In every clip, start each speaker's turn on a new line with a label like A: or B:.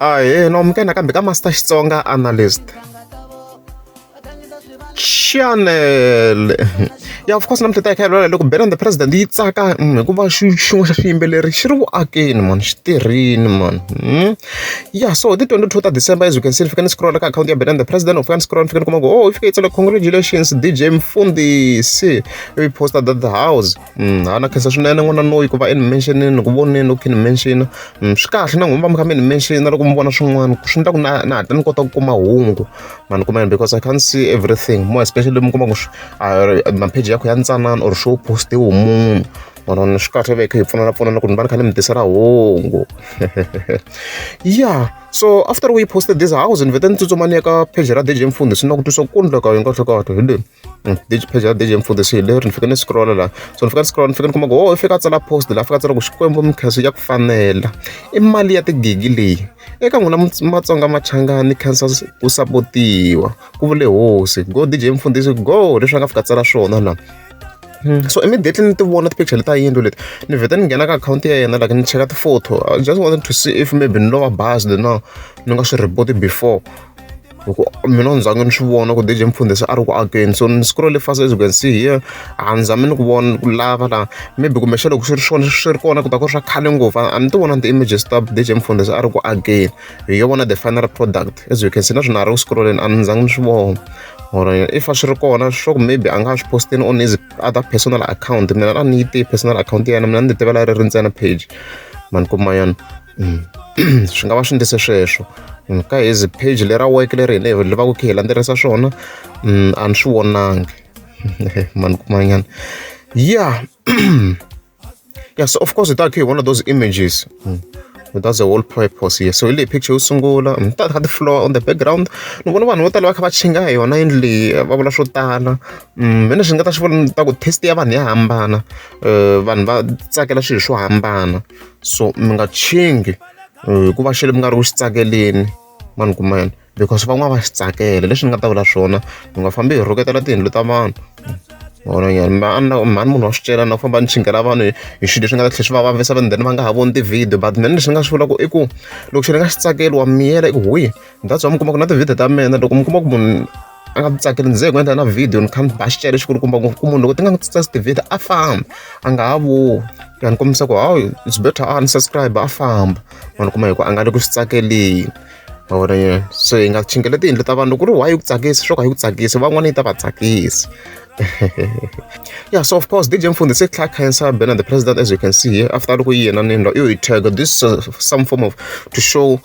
A: Ahee, no amukela nakambe ka Master Xitsonga Analyst. Chanele ya of course namuntlha hi ta hi kha hi lwela loko band the president yi tsaka mm, hikuva xin'we xa swiyimbeleri xi ri vuakeni mani xi tirhini mani hmm? ya so ti 22 ta december as you can see ni fika ni scrolla ka akhawunti ya band the president of fika ni scrolla ni fika ni kuma ku oh yi fika yi tsala congratulations dj mfundisi ivi posta that the house ha na khensa swinene n'wana loyi ku va i ni mention-ini ni ku vonile u khe ni mention swi kahle na n'wina va mi kha mi ni mention loko mi vona swin'wana swi endla ku na na hatla ni kota ku kuma hungu ma ni kuma yini because i can't see everything more especially mi kuma ku mapheji yakho ya ntsanana or swo postiwe munhu manana swi kahle veke hi pfunana pfunana ku ni va ni kha ni mi tisela hungu ya so after we posted this house ni vete ni tsutsumani ya ka pheji ra dj mfundi swi na ku twisa ku kundla ka hi kahlekahle hi le Mm, digi page ya digi mfundhisi hi leri ni fike ni scrolla laha so ni fika ni scrolla ni fika ni kuma ku o oh, i fika a tsala post laha fika a tsala ku xikwembu mikhenso ya ku fanela i mali ya tigigi leyi eka n'wina matsonga machangani khensa ku sapotiwa ku vule hosi go digi mfundhisi go leswi a nga fika tsala swona laha hmm, so immediately ni ti vona ti-picture leti a yindlu leti ni vheta ni nghena ka akhawunti ya yena like ni cheka ti-photo i just wanted to see if maybe ni lova bazi le na ni nga swi report before hi ku mina ni zange ni swi vona ku DJ Mfundhe se a ri ku akeni so ni scroll fast as you can see here a ni zami ni ku vona ku lava la maybe kumbe xa loko swi ri swona swi ri kona ku ta ku ri swa khale ngopfu a ni ti vona ni ti-images ta DJ Mfundhe se a ri ku akeni hi yo vona the final product as you can see na swona a ri ku scrolleni a ni zange ni swi vona or if a swi ri kona sure maybe a nga swi posteni on his other personal account mina a ni yi tiyi personal account ya yena mina ni ti tivela ri ri ntsena page mani kuma yona swi nga va swi endlise sweswo ka hezi page lera weke leri hina hi levaka kha hi landzelerisa swona mm, a ni swi vonangi mani kumanyana ya ya so of course hi ta kha hi vona those images mm. that's the whole purpose here so hi leyi picture yo sungula mi mm, ta kha ti-flower on the background ni vona vanhu vo tala va kha va chinga hi yona yindlu leyi eh, va vula swo tala mina swi nga ta swi vula ta ku taste ya vanhu ya hambana um vanhu va tsakela swilo swo hambana so mi nga tshwingi hikuva xilo mi nga ri ku xi tsakeleni ma ni kumela because van'wana va xi tsakela leswi ni nga ta vula swona mi nga fambi hi rhuketela tiyindlu ta vanhu vona nyana mhani mhani munhu wa swi cela na ku famba ni chingela vanhu hi swilo leswi nga ta tlhela swi va vavisa vanhu then va nga ha voni ti-video but mina lexi ni nga swi vulaka i ku loko xi ni nga xi tsakeli wa miyela i ku huyi that's why mi kuma ku na ti-video ta mina loko mi kuma ku munhu a nga tsakeli ndzi ku endla na video ni kha ni ba xicele xi kulukumba ngopfu ku munhu loko ti nga n'wi tsitsasi tivhidiyo a famba a nga ha voni ya ni kombisa ku hawu it's better a ni subscribe a famba ma ni kuma hi ku a nga le ku swi tsakeleni mavona yena so hi nga chingela tiyindlu ta vanhu loko ku ri why yi ku tsakisi swo ka yi ku tsakisi van'wana yi ta va tsakisi yeah, so of course, DJ Mfundi said Clark Cancer banner the president, as you can see here. After looking here, and you tag this uh, some form of to show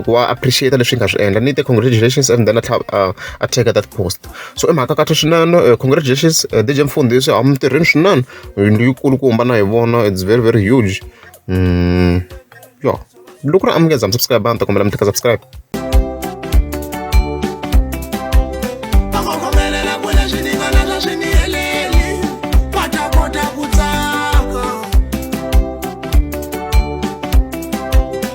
A: ku va appreciate leswi nga swi endla ni te congratulations and then a tlhela a a teka that post so i mhaka kahle swinene congratulations DJ Mfundisi a mi tirheni swinene yindlu yikulu ku hambana hi vona it's very very huge mm, yo loko ri amukeza mi subscribe a ni ta kombela mi teka subscribe